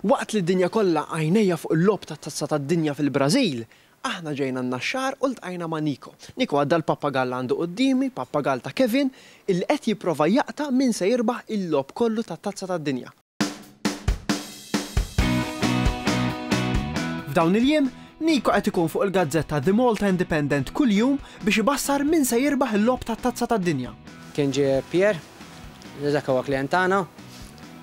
Waqt li d-dinja kollha għajnejha fuq il-logħob tat-Tazza tad-Dinja fil-Brażil, aħna ġejna n-Naxxar u ltqajna ma' Nico. Nico għadda l-pappagall li għandu quddiemi, pappagall ta' Kevin, illi qed jipprova jaqta' min se jirbaħ il-logħob kollu tat-Tazza tad-Dinja. F'dawn il-jiem, Nico qed ikun fuq il-gazzetta The Malta Independent kull jum biex ibassar min se jirbaħ il-logħob tat-Tazza tad-Dinja. Kien ġie Pierre, li dak huwa klijent tagħna.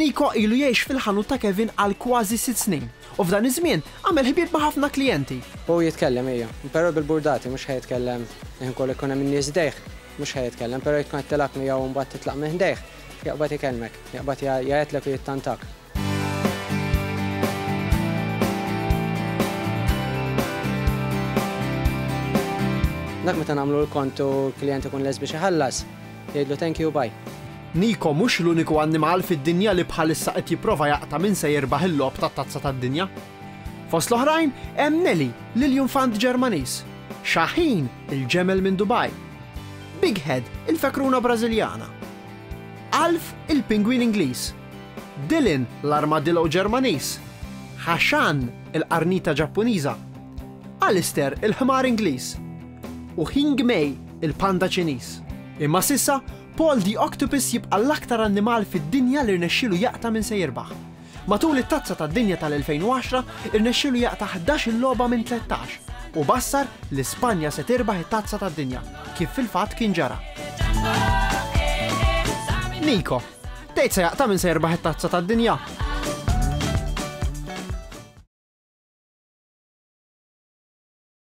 Niko ilu jgħix fil-ħanut ta' Kevin għal kważi sitt snin u f'dan iż-żmien għamel ħbieb ma' ħafna klijenti. Hu jitkellem ejja, però bil-burdati mhux ħa jitkellem ħin kollu jkun hemm in-nies ħdejh, mhux ħa jitkellem, però jekk tkun qed tilgħab miegħu u mbagħad titlaq minn ħdejh, Jaqbad ikellmek, jaqbad jgħajjatlek u jittantak. Dak meta nagħmlu l-kont u l-klijent ikun lest biex iħallas, jgħidlu thank you, bye. Nico mhux l-uniku annimal fid-dinja li bħalissa qed jipprova jaqta' min se jirbaħ il-logħob tat-Tazza tad-Dinja. Fost l-oħrajn hemm Nelly, l-iljunfant Ġermaniż, Shaheen, il-ġemel minn Dubai, Big Head, il-fekruna Brażiljana. Alf, il-pingwin Ingliż. Dylan, l-armadillo Ġermaniż. Hashan, il-qarnita Ġappuniża. Alistair, il-ħmar Ingliż. U Hing Mei, il-panda Ċiniż. Imma s'issa, Paul the Octopus jibqa' l-aktar annimal fid-dinja li rnexxielu jaqta' min se jirbaħ. Matul it-Tazza tad-Dinja tal-2010 rnexxielu jaqta' ħdax-il logħba minn tlettax u bassar li Spanja se tirbaħ it-Tazza tad-Dinja, kif fil-fatt kien ġara. Nico, Tgħid se jaqta' min se jirbaħ it-Tazza tad-Dinja?